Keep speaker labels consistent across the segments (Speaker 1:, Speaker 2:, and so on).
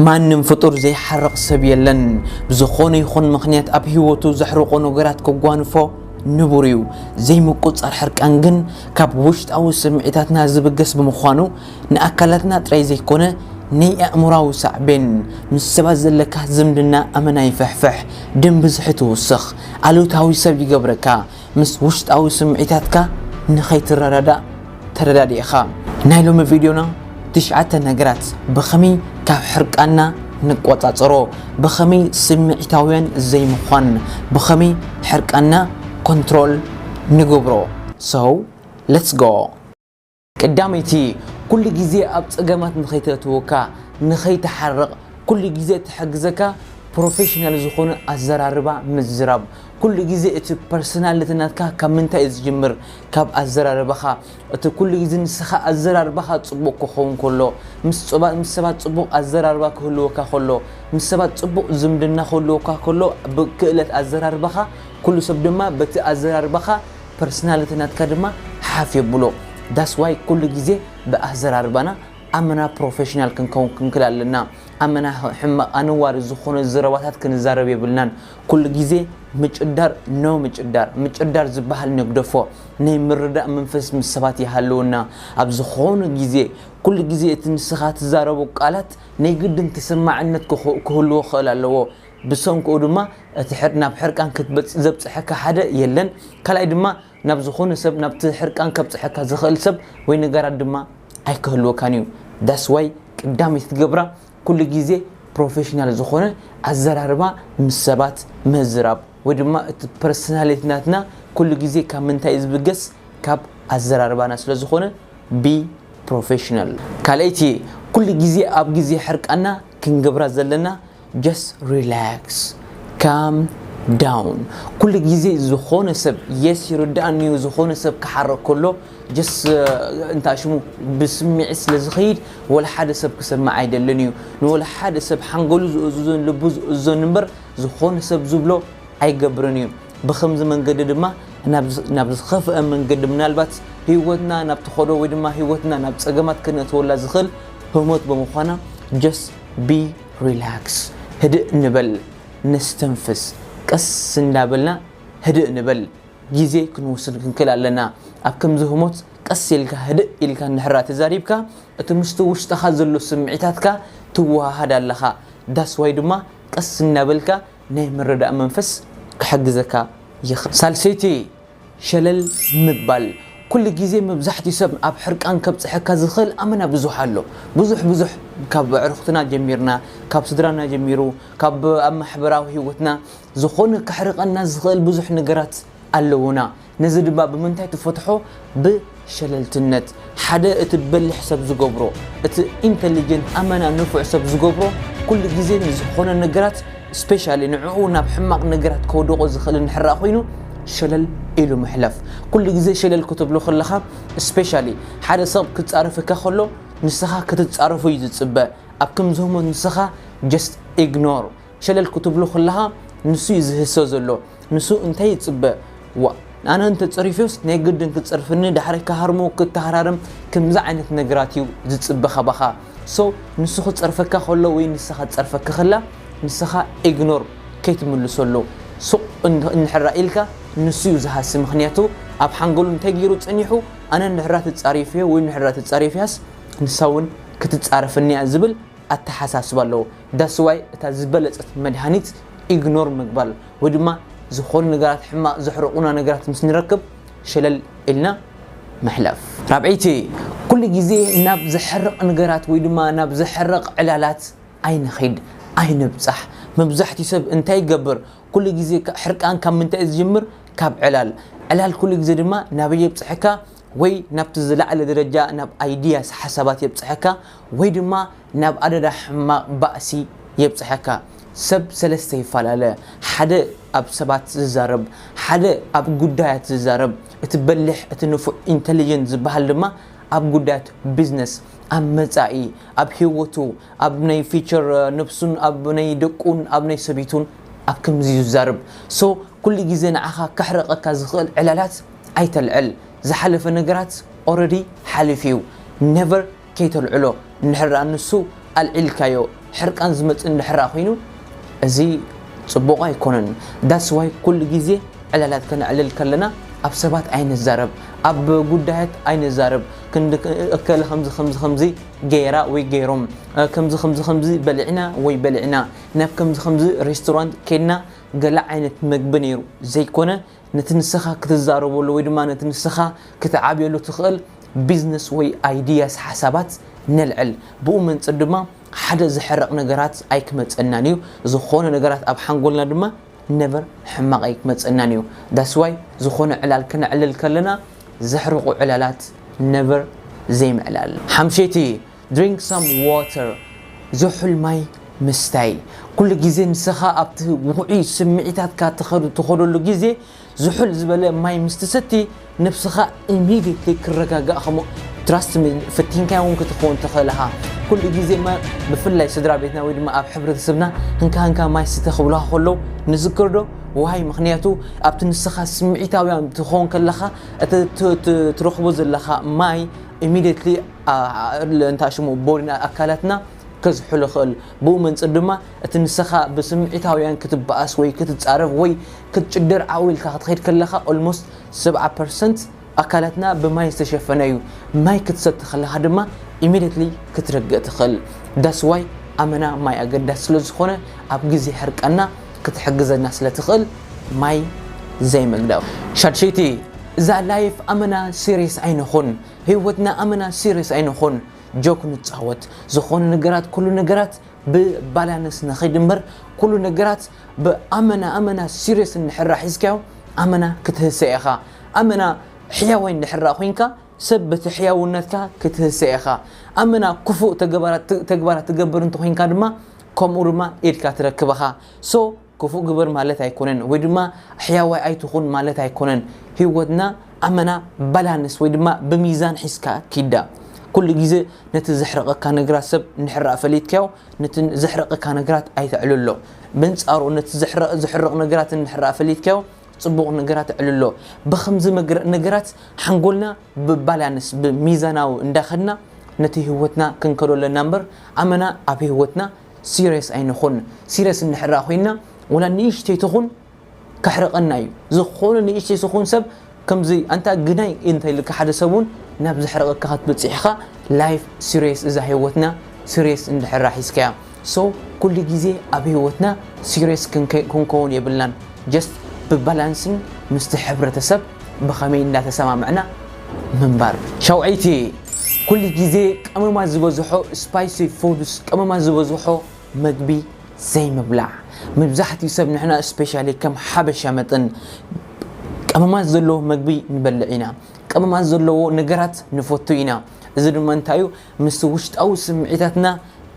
Speaker 1: ማንም ፍጡር ዘይሓርቕ ሰብ የለን። ብዝኾነ ይኹን ምኽንያት ኣብ ህይወቱ ዘሕርቖ ነገራት ከጓንፎ ንቡር እዩ። ዘይምቁጽጻር ሕርቃን ግን ካብ ውሽጣዊ ስምዒታትና ዝብገስ ብምዃኑ ንኣካላትና ጥራይ ዘይኮነ ነይ ኣእምሮኣዊ ሳዕቤን፣ ምስ ሰባት ዘለካ ዝምድና ኣመና ይፍሕፍሕ፣ ደም ብዝሒ ትውስኽ፣ ኣሉታዊ ሰብ ይገብረካ፣ ምስ ውሽጣዊ ስምዒታትካ ንኸይትረዳዳእ ተረዳዲእኻ። ናይ ሎሚ ቪድዮና ትሽዓተ ነገራት ብኸመይ ካብ ሕርቃንና ንቆጻጸሮ፣ ብኸመይ ስምዒታውያን ዘይምዃን፣ ብኸመይ ሕርቃንና ኮንትሮል ንገብሮ። So let's go! ቀዳመይቲ፣ ኩሉ ግዜ ኣብ ጸገማት ንኸይተእትወካ፣ ንኸይትሓርቕ ኩሉ ግዜ ትሕግዘካ ፕሮፈሽናል ዝኾነ ኣዘራርባ ምዝራብ። ኩሉ ግዜ እቲ ፐርሰናሊቲ ናትካ ካብ ምንታይ እዩ ዝጅምር? ካብ ኣዘራርባኻ። እቲ ኩሉ ግዜ ንስኻ ኣዘራርባኻ ጽቡቕ ክኸውን ከሎ፣ ምስ ሰባት ጽቡቕ ኣዘራርባ ክህልወካ ከሎ፣ ምስ ሰባት ጽቡቕ ዝምድና ክህልወካ ከሎ ብክእለት ኣዘራርባኻ፣ ኩሉ ሰብ ድማ በቲ ኣዘራርባኻ፣ ፐርስናልቲ ናትካ ድማ ሓፍ የብሎ ዳስ ዋይ ኩሉ ግዜ ብኣዘራርባና ኣመና ፕሮፈሽናል ክንከውን ክንክል ኣለና ኣመና ሕማቅ ኣነዋሪ ዝኮነ ዘረባታት ክንዛረብ የብልናን ኩሉ ግዜ ምጭዳር no ምጭዳር ምጭዳር ዝባሃል ንግደፎ ናይ ምርዳእ መንፈስ ምስ ሰባት ይሃልወና ኣብ ዝኮነ ግዜ ኩሉ ግዜ እቲ ንስካ ትዛረቦ ቃላት ናይ ግድን ተሰማዕነት ክህልዎ ክክእል ኣለዎ ብሰንክኡ ድማ እቲ ሕር ናብ ሕርቃን ክትበጽ ዘብጽሐካ ሓደ የለን ካልኣይ ድማ ናብ ዝኾነ ሰብ ናብቲ ሕርቃን ከብጽሐካ ዝኽእል ሰብ ወይ ነገራት ድማ ኣይክህልወካን እዩ ዳስ ዋይ ቅዳመይቲ ትገብራ ኩሉ ግዜ ፕሮፌሽናል ዝኾነ ኣዘራርባ ምስ ሰባት ምዝራብ ወይ ድማ እቲ ፐርሰናሊቲ ናትና ኩሉ ግዜ ካብ ምንታይ ዝብገስ ካብ ኣዘራርባና ስለ ዝኾነ ቢ ፕሮፌሽናል ካልኣይቲ ኩሉ ግዜ ኣብ ግዜ ሕርቃና ክንገብራ ዘለና just relax calm down ኩሉ ግዜ ዝኾነ ሰብ yes ይርዳኣኒ እዩ ዝኾነ ሰብ ክሓረቅ ከሎ just እንታይ ሽሙ ብስምዒት ስለ ዝኸይድ ወላ ሓደ ሰብ ክሰምዕ ኣይደልን እዩ ንወላ ሓደ ሰብ ሓንጎሉ ዝእዝዞን ልቡ ዝእዝዞን እምበር ዝኾነ ሰብ ዝብሎ ኣይገብርን እዩ ብከምዚ መንገዲ ድማ ናብ ዝኸፍአ መንገዲ ምናልባት ህይወትና ናብ ትኸዶ ወይ ድማ ህይወትና ናብ ፀገማት ክነእትወላ ዝኽእል ህሞት ብምዃና just be ሪላክስ ህድእ ንበል ነስተንፍስ ቀስ እንዳበልና ህድእ ንበል ግዜ ክንውስድ ክንክእል ኣለና ኣብ ከምዚ ህሞት ቀስ ኢልካ ህድእ ኢልካ እንድሕራ ተዛሪብካ እቲ ምስቲ ውሽጥኻ ዘሎ ስምዒታትካ ትወሃሃድ ኣለኻ ዳስ ዋይ ድማ ቀስ እንዳበልካ ናይ ምርዳእ መንፈስ ክሕግዘካ ይኽእል ሳልሰይቲ ሸለል ምባል ኩሉ ግዜ መብዛሕትኡ ሰብ ኣብ ሕርቃን ከብጽሐካ ዝኽእል ኣመና ብዙሕ ኣሎ ብዙሕ ብዙሕ ካብ ኣዕሩኽትና ጀሚርና ካብ ስድራና ጀሚሩ ካብ ኣብ ማሕበራዊ ሂወትና ዝኾነ ከሕርቀና ዝኽእል ብዙሕ ነገራት ኣለዉና ነዚ ድማ ብምንታይ ትፈትሖ ብ ሸለልትነት ሓደ እቲ በሊሕ ሰብ ዝገብሮ እቲ ኢንተሊጀንት ኣመና ንፉዕ ሰብ ዝገብሮ ኩሉ ግዜ ንዝኾነ ነገራት ስፔሻሊ ንዕኡ ናብ ሕማቕ ነገራት ከውደቆ ዝኽእል እንድሕራ ኮይኑ ሸለል ኢሉ ምሕላፍ ኩሉ ግዜ ሸለል ክትብሎ ከለኻ ስፔሻሊ ሓደ ሰብ ክጻረፈካ ከሎ ንስኻ ክትጻረፎ እዩ ዝጽበ ኣብ ከምዚ ህሞት ንስኻ ጀስት ኢግኖር ሸለል ክትብሉ ከለኻ ንሱ እዩ ዝህሰ ዘሎ ንሱ እንታይ ይፅበ ዋ ኣነ እንተፀሪፊዮስ ናይ ግድን ክፀርፍኒ ዳሕራይ ክሃርሞ ክተሃራርም ከምዚ ዓይነት ነገራት እዩ ዝፅበ ካባኻ ሶ ንሱ ክፀርፈካ ከሎ ወይ ንሳ ክትፀርፈካ ከላ ንስኻ ኢግኖር ከይትምልሰሉ ሱቕ እንሕራ ኢልካ ንሱ እዩ ዝሃሲ ምክንያቱ ኣብ ሓንገሉ እንታይ ገይሩ ፀኒሑ ኣነ ንሕራ ትፃሪፍዮ ወይ ንሕራ ትፃሪፍያስ ንሳ እውን ክትፃረፍኒያ ዝብል ኣተሓሳስባ ኣለዎ That's why እታ ዝበለጸት መድሃኒት ኢግኖር ምግባር ወይ ድማ ዝኾኑ ነገራት ሕማቕ ዘሕርቑና ነገራት ምስ ንረክብ ሸለል ኢልና ምሕላፍ። ራብዐይቲ፣ ኩሉ ግዜ ናብ ዘሕርቕ ነገራት ወይ ድማ ናብ ዘሕርቕ ዕላላት ኣይንኺድ፣ ኣይንብጻሕ። መብዛሕትኡ ሰብ እንታይ ይገብር? ኩሉ ግዜ ሕርቃን ካብ ምንታይ እዩ ዝጅምር? ካብ ዕላል። ዕላል ኩሉ ግዜ ድማ ናበይ የብጽሐካ? ወይ ናብቲ ዝለዓለ ደረጃ ናብ Ideas፣ ሓሳባት፣ የብጽሐካ ወይ ድማ ናብ ኣደዳ ሕማቕ ባእሲ የብጽሐካ። ሰብ ሰለስተ ይፈላለ፣ ሓደ ኣብ ሰባት ዝዛረብ፣ ሓደ ኣብ ጉዳያት ዝዛረብ፣ እቲ በሊሕ እቲ ንፉዕ ኢንተሊጀንት ዝበሃል ድማ ኣብ ጉዳያት ቢዝነስ፣ ኣብ መጻኢ፣ ኣብ ሂወቱ፣ ኣብ ናይ ፊቸር ነብሱን ኣብ ናይ ደቁን ኣብ ናይ ሰበይቱን ኣብ ከምዚ ዝዛረብ so ኩሉ ግዜ ንዓኻ ከሕርቐካ ዝኽእል ዕላላት ኣይተልዕል ዝሓለፈ ነገራት already ሓሊፉ እዩ never ከይተልዕሎ እንድሕርደኣ ንሱ ኣልዒልካዮ ሕርቃን ዝመጽእ እንድሕርደኣ ኮይኑ እዚ ጽቡቕ ኣይኮነን ዳትስ ዋይ ኩሉ ግዜ ዕላላት ከነዕልል ከለና ኣብ ሰባት ኣይንዛረብ ኣብ ጉዳያት ኣይንዛረብ ክንዲ እከለ ከምዚ ከምዚ ከምዚ ገይራ ወይ ገይሮም ከምዚ ከምዚ ከምዚ በልዕና ወይ በልዕና ናብ ከምዚ ከምዚ ሬስቶራንት ከድና ገለ ዓይነት መግቢ ነይሩ ዘይኮነ ነቲ ንሰኻ ክትዛረበሉ ወይ ድማ ነቲ ንሰኻ ክትዓብየሉ ትኽእል ቢዝነስ ወይ ኣይድያስ ሓሳባት ነልዕል። ብኡ መንጽር ድማ ሓደ ዝሕረቕ ነገራት ኣይክመጸናን እዩ። ዝኾነ ነገራት ኣብ ሓንጎልና ድማ ነቨር ሕማቕ ኣይክመጸናን እዩ። ዳትስ ዋይ ዝኾነ ዕላል ክነዕልል ከለና ዘሕርቑ ዕላላት ነቨር ዘይምዕላል። ሓምሸይቲ Drink some water ዝሑል ማይ ምስታይ፣ ኩሉ ግዜ ንስኻ ኣብቲ ውዑይ ስምዒታትካ ትኸደሉ ግዜ ዝሑል ዝበለ ማይ ምስ ትሰቲ ነብስኻ immediately ክረጋጋእ ከም trust me ፈቲንካዮ ውን ክትከውን ትኽእል እኻ ኩሉ ግዜ ማይ ብፍላይ ስድራቤትና ወይ ድማ ኣብ ሕብረተሰብና እንካ እንካ ማይ ስተ ክብሉኻ ከለው ንዝክር ዶ why ምኽንያቱ ኣብቲ ንስኻ ስምዒታውያን ትኸውን ከለኻ እቲ ትረኽቦ ዘለኻ ማይ immediately ኣእርለ እንታ ሽሙ ቦሪና ኣካላትና ከዝሕል ይኽእል። ብኡ መንጽር ድማ እቲ ንሰኻ ብስምዒታውያን ክትበኣስ ወይ ክትጻረፍ ወይ ክትጭደር ዓው ኢልካ ክትኸይድ ከለኻ ኦልሞስት ሰብዓ ፐርሰንት ኣካላትና ብማይ ዝተሸፈነ እዩ። ማይ ክትሰቲ ከለኻ ድማ ኢሚድየትሊ ክትርገእ ትኽእል። ዳትስ ዋይ ኣመና ማይ ኣገዳሲ ስለ ዝኾነ ኣብ ግዜ ሕርቃንና ክትሕግዘና ስለ ትኽእል ማይ ዘይምግዳፍ። ሻድሸይቲ እዛ ላይፍ ኣመና ሲርየስ ኣይንኹን። ህይወትና ኣመና ሲርየስ ኣይንኹን ጆክ ንጻወት ዝኾነ ነገራት ኩሉ ነገራት ብባላንስ ንኺድ እምበር ኩሉ ነገራት ብኣመና ኣመና ሲርየስ እንድሕራ ሒዝካዮ ኣመና ክትህሰ ኢኻ ኣመና ሕያዋይ እንድሕራ ኮንካ ሰብ በቲ ሕያውነትካ ክትህሰ ኢኻ ኣመና ክፉእ ተግባራት ትገብር እንተኾይንካ ድማ ከምኡ ድማ ኢድካ ትረክብ ኢኻ ሶ ክፉእ ግበር ማለት ኣይኮነን ወይ ድማ ሕያዋይ ኣይትኹን ማለት ኣይኮነን ሂወትና ኣመና ባላንስ ወይ ድማ ብሚዛን ሒዝካ ኪዳ ኩሉ ግዜ ነቲ ዘሕርቀካ ነግራት ሰብ እንድሕር ፈሊጥካዮ ነቲ ዘሕርቀካ ነግራት ኣይተዕልሎ በንጻሩ ነቲ ዘሕርቅ ነግራት እንድሕር ፈሊጥካዮ ጽቡቅ ነገራት ኣዕልሎ ብከምዚ ነገራት ሓንጎልና ብባላንስ ብሚዛናዊ እንዳከድና ነቲ ሂወትና ክንከዶ ኣለና እምበር ኣመና ኣብ ሂወትና ሲርየስ ኣይንኹን ሲርየስ እንድሕራ ኮይና ወላ ንእሽተይ ትኹን ከሕርቀና እዩ ዝኾነ ንእሽተይ ዝኹን ሰብ ከምዚ ኣንታ ግናይ እንተልካ ሓደ ሰብ እውን ናብ ዘሕርቀካ ክትበፅሕ ኢኻ ላይፍ ሲርየስ እዛ ህይወትና ሲርየስ እንድሕራ ሒዝካያ ሶ ኩሉ ግዜ ኣብ ህይወትና ሲርየስ ክንከውን የብልናን ጀስት ብባላንስን ምስቲ ሕብረተሰብ ብኸመይ እንዳተሰማምዕና ምንባር። ሸውዓይተ፣ ኩሉ ግዜ ቀመማት ዝበዝሖ፣ Spicy Foods፣ ቀመማት ዝበዝሖ መግቢ ዘይምብላዕ። መብዛሕትኡ ሰብ ንሕና እስፔሻሊ ከም ሓበሻ መጠን ቀመማት ዘለዎ መግቢ ንበልዕ ኢና። ቀመማት ዘለዎ ነገራት ንፈቱ ኢና። እዚ ድማ እንታይ እዩ ምስቲ ውሽጣዊ ስምዒታትና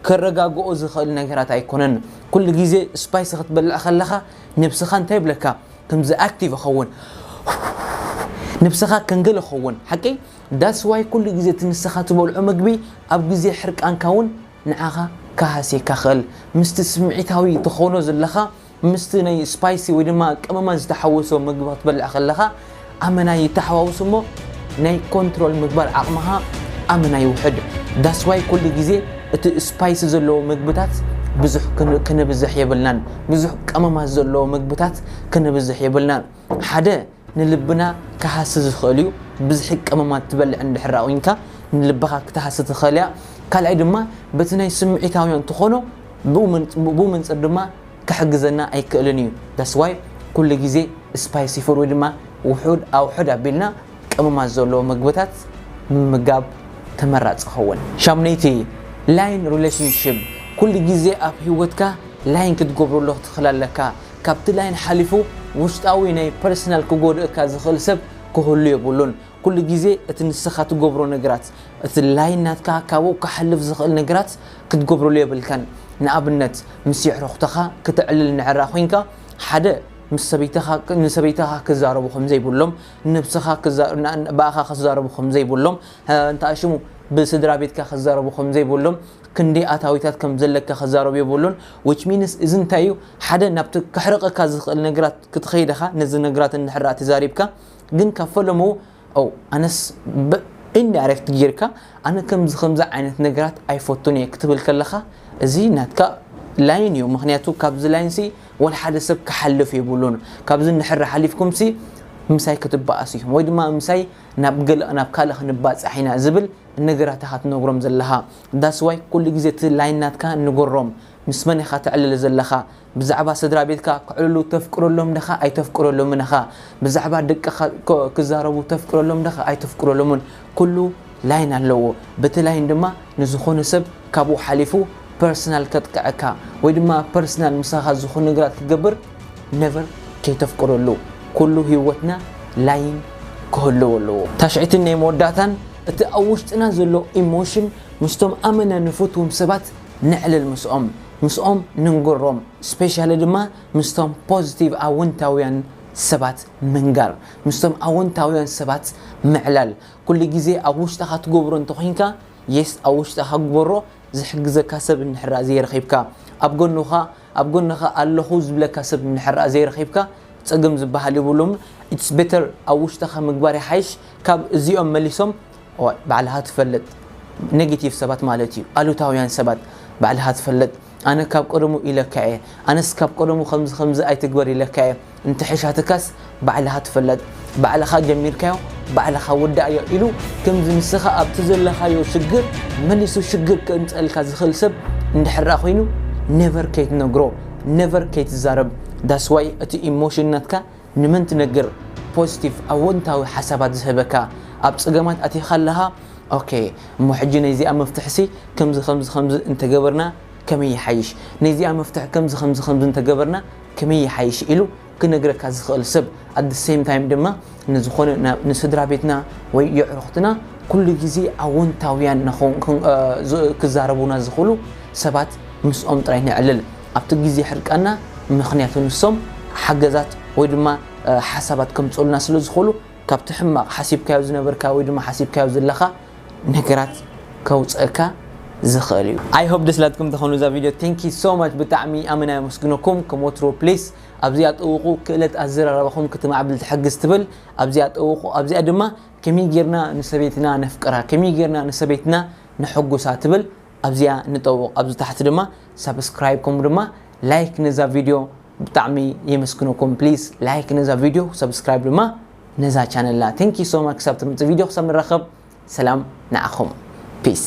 Speaker 1: ከረጋግኦ ዝኽእል ነገራት ኣይኮነን። ኩሉ ግዜ ስፓይሲ ክትበልዕ ከለኻ ነብስኻ እንታይ ይብለካ? ከምዚ ኣክቲቭ እኸውን ነብስኻ ከንግል እኸውን ሓቂ ዳስ ዋይ ኩሉ ግዜ እቲ ንስኻ ትበልዖ ምግቢ ኣብ ግዜ ሕርቃንካ እውን ንዓኻ ክሃስየካ ይኽእል ምስቲ ስምዒታዊ ትኾኖ ዘለኻ ምስቲ ናይ ስፓይሲ ወይ ድማ ቀመማት ዝተሓወሶ ምግቢ ክትበልዕ ከለኻ ኣመና ይታሓዋውስ እሞ ናይ ኮንትሮል ምግባር ዓቅምኻ ኣመና ይውሕድ ዳስ ዋይ ኩሉ ግዜ እቲ ስፓይሲ ዘለዎ ምግብታት ብዙሕ ክነብዝሕ የብልናን ብዙሕ ቀመማት ዘለዎ ምግብታት ክነብዝሕ የብልና ሓደ ንልብና ክሃሲ ዝኽእል እዩ ብዝሒ ቀመማት ትበልዕ እንድሕር ኣቁንካ ንልብኻ ክትሃሲ ትኽእል እያ ካልኣይ ድማ በቲ ናይ ስምዒታውያን ትኾኖ ብኡ መንፅር ድማ ክሕግዘና ኣይክእልን እዩ that's why ኩሉ ግዜ spicy food ወይ ድማ ውሑድ ኣውሑድ ኣቢልና ቀመማት ዘለዎ ምግብታት ምምጋብ ተመራጺ ይኸውን። ሻምነይቲ፣ ላይን ሪሌሽንሺፕ፣ ኩሉ ግዜ ኣብ ሂወትካ ላይን ክትገብረሉ ክትኽል ኣለካ፣ ካብቲ ላይን ሓሊፉ ውሽጣዊ ናይ ፐርሰናል ክጎድእካ ዝኽእል ሰብ ክህሉ የብሉን፣ ኩሉ ግዜ እቲ ንስኻ ትገብሮ ነገራት እቲ ላይን ናትካ ካብኡ ክሓልፍ ዝኽእል ነገራት ክትገብረሉ የብልካን ንኣብነት ምስ የዕሩኽትኻ ክተዕልል ንዕራ ኮይንካ ሓደ ምስ ሰበይትኻ ንሰበይትኻ ክዛረቡ ከምዘይብሎም ንነብስኻ ብኣኻ ክዛረቡ ከምዘይብሎም እንታይ ሽሙ ብስድራ ቤትካ ክዛረቡ ከምዘይብሎም ክንደይ ኣታዊታት ከም ዘለካ ክዛረቡ የብሉን which means እዚ እንታይ እዩ ሓደ ናብቲ ክሕርቀካ ዝኽእል ነገራት ክትኸይድ ኢኻ ነዚ ነገራት እንድሕር ተዛሪብካ ግን ካብ ፈለሙ ኦ ኣነስ ኢንዳይሬክት ጌርካ ኣነ ከምዚ ከምዚ ዓይነት ነገራት ኣይፈቱን እየ ክትብል ከለኻ እዚ ናትካ ላይን እዩ ምክንያቱ ካብዚ ላይን ሲ ወል ሓደ ሰብ ክሓልፍ የብሉን ካብዚ ንድሕር ሓሊፍኩም ሲ ምሳይ ክትበኣስ ኢኹም ወይ ድማ ምሳይ ናብ ገለ ናብ ካልእ ክንባጻሕ ኢና ዝብል ነገራት ኢኻ ትነግሮም ዘለኻ ዳስዋይ ኩሉ ግዜ እቲ ላይን ናትካ ንገሮም ምስ መን ኢኻ ተዕልል ዘለኻ ብዛዕባ ስድራቤትካ ክዕልሉ ተፍቅደሎም ደኻ ኣይተፍቅደሎምን እኻ ብዛዕባ ደቅኻ ክዛረቡ ተፍቅደሎም ደኻ ኣይተፍቅደሎምን ኩሉ ላይን ኣለዎ በቲ ላይን ድማ ንዝኾነ ሰብ ካብኡ ሓሊፉ ፐርስናል ከጥቅዐካ ወይ ድማ ፐርስናል ምሳኻ ዝኾነ ነገራት ክገብር ነቨር ከይተፍቅደሉ ኩሉ ሂወትና ላይን ክህልዎ ኣለዎ ታሽዕትን ናይ መወዳእታን እቲ ኣብ ውሽጥና ዘሎ ኢሞሽን ምስቶም ኣመና ንፈትዎም ሰባት ነዕልል ምስኦም ምስኦም ንንገሮም ስፔሻሊ ድማ ምስቶም ፖዚቲቭ ኣወንታውያን ሰባት ምንጋር ምስቶም ኣወንታውያን ሰባት ምዕላል ኩሉ ግዜ ኣብ ውሽጥኻ ትገብሮ እንተኾይንካ የስ ኣብ ውሽጥኻ ግበሮ ዝሕግዘካ ሰብ እንድሕር ዘይረኺብካ ኣብ ጎንኻ ኣብ ጎንኻ ኣለኹ ዝብለካ ሰብ እንድሕር ዘይረኺብካ ጸገም ዝበሃል የብሉን ኢትስ ቤተር ኣብ ውሽጥኻ ምግባር ይሓይሽ ካብ እዚኦም መሊሶም እዋይ ባዕልኻ ትፈልጥ ነጊቲቭ ሰባት ማለት እዩ ኣሉታውያን ሰባት ባዕልኻ ትፈልጥ ኣነ ካብ ቀደሙ ኢለካ እየ ኣነስ ካብ ቀደሙ ከምዚ ከምዚ ኣይትግበር ኢለካ እየ እንተሐሻትካስ ባዕልኻ ትፈለጥ ባዕልኻ ጀሚርካዮ ባዕልኻ ወዳእዮ ኢሉ ከምዚ ንስኻ ኣብቲ ዘለኻዮ ሽግር መሊሱ ሽግር ከእምፀልካ ዝኽእል ሰብ እንድሕራ ኮይኑ ነቨር ከይትነግሮ ነቨር ከይትዛረብ ዳስዋይ እቲ ኢሞሽን ናትካ ንመን ትነግር ፖዝቲቭ ኣወንታዊ ሓሳባት ዝህበካ ኣብ ጸገማት ኣቲካ ኣለካ ኦኬ እሞ ሕጂ ነይዚኣ መፍትሕሲ ከምዚ ከምዚ ከምዚ እንተገበርና ከመይ ይሓይሽ ነይዚኣ መፍትሒ ከምዚ ከምዚ ከምዚ እንተገበርና ከመይ ይሓይሽ ኢሉ ክነግረካ ዝክእል ሰብ ኣት ዘ ሰይም ታይም ድማ ንዝኮነ ንስድራቤትና ወይ የዕሩክትና ኩሉ ግዜ ኣወንታውያን ክዛረቡና ዝክእሉ ሰባት ምስኦም ጥራይ ነዕልል። ኣብቲ ግዜ ሕርቃንና ምኽንያቱ ንሶም ሓገዛት ወይ ድማ ሓሳባት ከምጽኡልና ስለ ዝኽእሉ ካብቲ ሕማቕ ሓሲብካዮ ዝነበርካ ወይ ድማ ሓሲብካዮ ዘለኻ ነገራት ከውጽእካ ዝኽእል እዩ። I hope ደስ ኢላትኩም ተኾኑ እዛ ቪድዮ Thank you so much ብጣዕሚ ኣመና የመስግነኩም ከም ወትሩ please ኣብዚኣ ጠውቑ ክእለት ኣዘራርባኹም ክትማዕብል ትሕግዝ ትብል ኣብዚኣ ጠውቑ ኣብዚኣ ድማ ከመይ ጌርና ንሰበይትና ነፍቅራ ከመይ ጌርና ንሰበይትና ነሕጉሳ ትብል ኣብዚኣ ንጠውቕ ኣብዚ ታሕቲ ድማ ሳብስክራይብ ከምኡ ድማ ላይክ ነዛ ቪድዮ ብጣዕሚ የመስግነኩም ፕሊስ ላይክ ነዛ ቪድዮ ሳብስክራይብ ድማ ነዛ ቻነልና ቴንኪ ሶ ማች ክሳብ ትምጽእ ቪድዮ ክሳብ ንራኸብ ሰላም ንዓኹም ፒስ